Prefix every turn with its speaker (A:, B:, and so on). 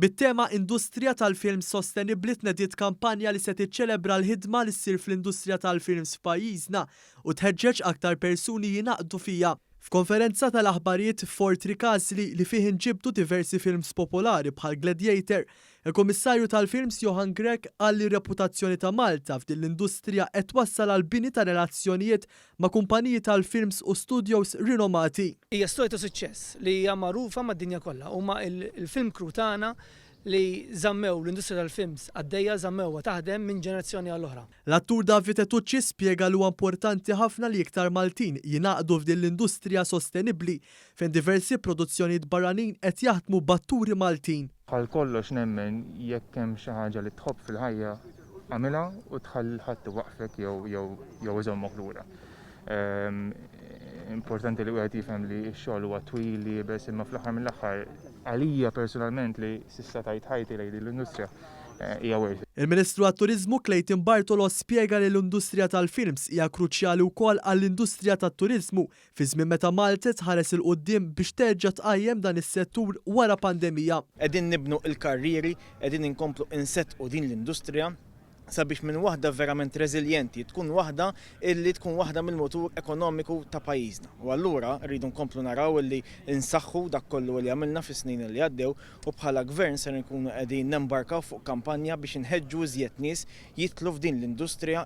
A: Bit-tema Industrija tal-Films Sostenibbli tnediet kampanja li se tiċċelebra l-ħidma li ssir fl-industrija tal-films f'pajjiżna u tħeġġeġ aktar persuni jingħaqdu fiha. F'konferenza tal-aħbarijiet f'Fort Ricasli, li fih inġibdu diversi films popolari bħal Gladiator, il-Kummissarju tal-Films Johann Grech qal li r-reputazzjoni ta' Malta f'din l-industrija qed twassal għall-bini ta' relazzjonijiet ma' kumpaniji tal-films u studjos rinomati. Hija storja ta' suċċess
B: li hija magħrufa mad-dinja kollha. Huma l-film crew tagħna li żammew l-industrija tal-films għaddejja, żammewha taħdem minn ġenerazzjoni għal oħra. L-attur David
A: Tetucci spjega li huwa importanti ħafna li iktar Maltin jingħaqdu f'din l-industrija sostenibbli fejn diversi produzzjonijiet barranin qed jaħdmu b'atturi Maltin. Bħal kollox
C: nemmen jekk hemm xi ħaġa li tħobb fil-ħajja għamilha u tħalli lil ħadd iwaqqfek jew iżommok lura. Importanti li wieħed jifhem li x-xogħol huwa twil, iebes, imma fl-aħħar mill-aħħar għalija personalment li s'issa tajt ħajti lejn din l-industrija eh, hija worth it. Il-Ministru għat-Turiżmu
A: Clayton Bartolo spjega li l-industrija tal-films hija kruċjali wkoll għall-industrija tat-turiżmu Fi żmien meta Malta tħares 'il quddiem biex terġa' tqajjem dan is-settur wara pandemija. Qegħdin nibnu
D: l-karrieri, qegħdin inkomplu inseddqu din l-industrija sabiex minn waħda verament reżiljenti tkun waħda illi tkun waħda mill-mutur ekonomiku ta' pajjiżna. U allura rridu nkomplu naraw illi nsaħħu dak kollu illi għamilna fis-snin illi għaddew u bħala Gvern ser inkunu qegħdin nembarkaw fuq kampanja biex inħeġġu iżjed nies jidħlu f'din l-industrija.